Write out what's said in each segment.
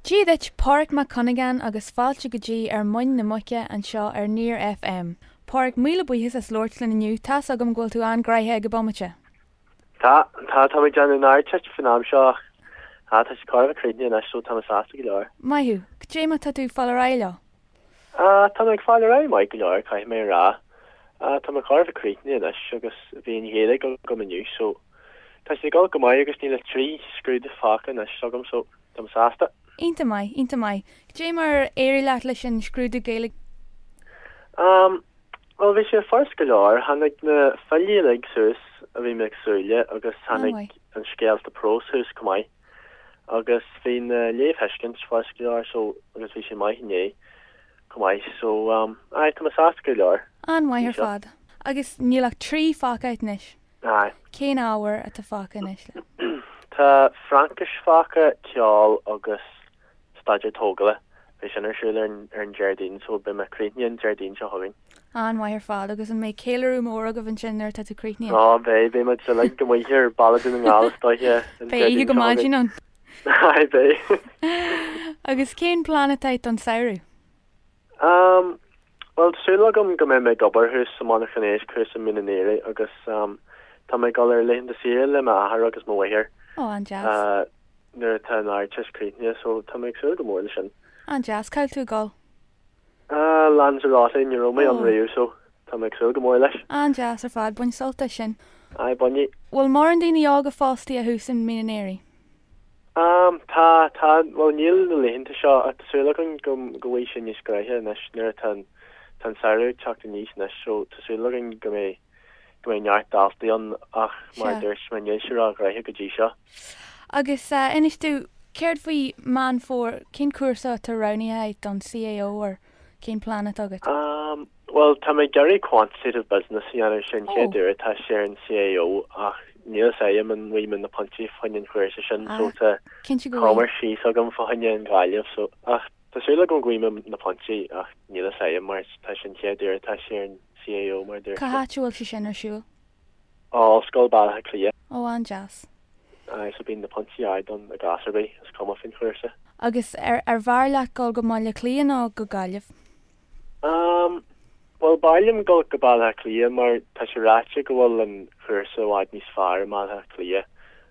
Dia duit Pádraic Mac Cuinneagáin agus fáilte go dtí Ar Muin na Muice anseo ar Near FM. Pádraic, míle buíochas as labhairt linn inniu, tá's agam go bhfuil tú an-ghraithe ag an bomaite. Tá, tá, tá mé ag déanamh an Ardteist fán am seo ach tá tá sé chóir a bheith críochnaithe anois so tá mé sásta go leor. Maith thú, goidé mar tá tú ag fáil ar aghaidh leo? Tá mé ag fáil ar aghaidh maith go leor, caithfidh mé a rá. Tá mé chóir a bheith críochnaithe anois agus bhí an Ghaeilge agam inniu so tá sé ag dul go maith agus níl ach trí scrúdú fágtha anois agam so táim sásta. Iontach maith, iontach maith. Goidé mar ar éirigh leat leis an scrúdú Gaeilge? Bhuel, bhí sé furast go leor. Tháinig na filí uilig suas a bhí mé ag súil le agus tháinig an scéalta próis suas chomh maith. Agus bhí na léamhthuiscint furast go leor so agus bhí sé maith inné chomh maith so um aye tá mé sásta go leor. An-mhaith ar fad. Agus níl ach trí fágtha anois. Aye. Cén ábhar atá fágtha anois le. Tá Fraincis fágtha, ceol agus staidéar tógála, beidh sin ar siúl ar an Déardaoin so beidh mé críochnaithe an Déardaoin seo chugainn. An-mhaith ar fad, agus an mbeidh céiliúradh mór agaibh ansin nuair atá tú críochnaithe? Á beidh, beidh muid uilig amuigh ar Baile Dhún na nGall is dóiche. Beidh oíche go maidin ann. Aye beidh. Agus cén plean atá agat don samhradh? Um, bhuel, súil agam go mbeidh mé ag obair thuas sa monarchan éisc thuas i Mín an Aoire agus, um, tá mé ag dul ar laethanta saoire le m'athair agus mo mháthair. Oh, an-deas. Uh, nuair atá an Ardteist críochnaithe, so tá mé ag súil go mór leis sin. An-deas, cá bhfuil tú ag dul? Uh, Lanzarote, ní raibh mé ann riamh, so Tá mé ag súil go mór leis. An-deas ar fad, bain sult as sin. Aye, bainfidh. Bhfuil mórán daoine óga fostaithe thuas i Mín an Aoire? Am, tá, tá, bhuel níl na laethanta seo ach tá súil againn go, go bhfaighidh sé níos graithe anois nuair atá an, tá an Samhradh ag teacht aníos anois so tá súil againn go mbeidh, go mbeidh neart daltaí ann ach mar a Sea. dúirt mé níl sé ró-ghraithe go dtí seo. Agus eh inis domh, céard faoi Meán Fómhair, cén cúrsa atá roghnaithe agat don CAO or. Cén plean atá agat? Bhuel, tá mé ag iarraidh quantitative business a dhéanamh, sin an chéad uair atá sé ar an CAO ach níl fhios a'm an bhfaighidh mé na pointí fá choinne an chúrsa sin so tá Commerce síos agam fá choinne an Ghaillimh so ach tá súil agam go bhfaighidh mé na pointí ach níl fhios a'm mar tá sin an chéad uair atá sé ar an CAO mar dúirt mé. Cá háit a bhfuil sé sin ar siúl? Ollscoil Bhaile Átha Cliath. Ó, an-deas. Aye, so bíonn na pointí ard ann i gcás ar bith, is cuma faoin chúrsa. Agus ar, ar bhfearr leat dul go mBaile Átha Cliath nó go Gaillimh? Um, bhuel, b'fhearr liom dul go Baile Átha Cliath mar tá sé ráite go bhfuil an chúrsa i bhfad níos fearr i mBaile Átha Cliath.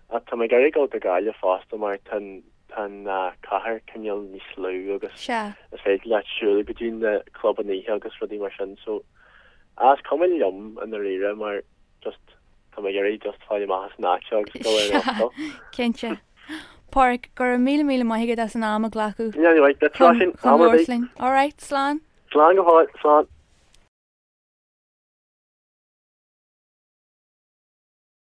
Ach tá mé ag iarraidh dul go Gaillimh fosta mar tá an, Tá an cathair cineál níos lú agus is féidir leat siúl go dtí na clubanna oíche agus rudaí mar sin so ah is cuma liom i ndáiríre mar just tá mé ag iarraidh just fáil amach as an áit seo agus dul ar an ollscoil. Sea, cinnte. Pádraic, go raibh míle míle maith agat as an am a ghlacadh. Níl uait, beidh trá sin am ar bith. All right, slán. Slán go fóill, slán.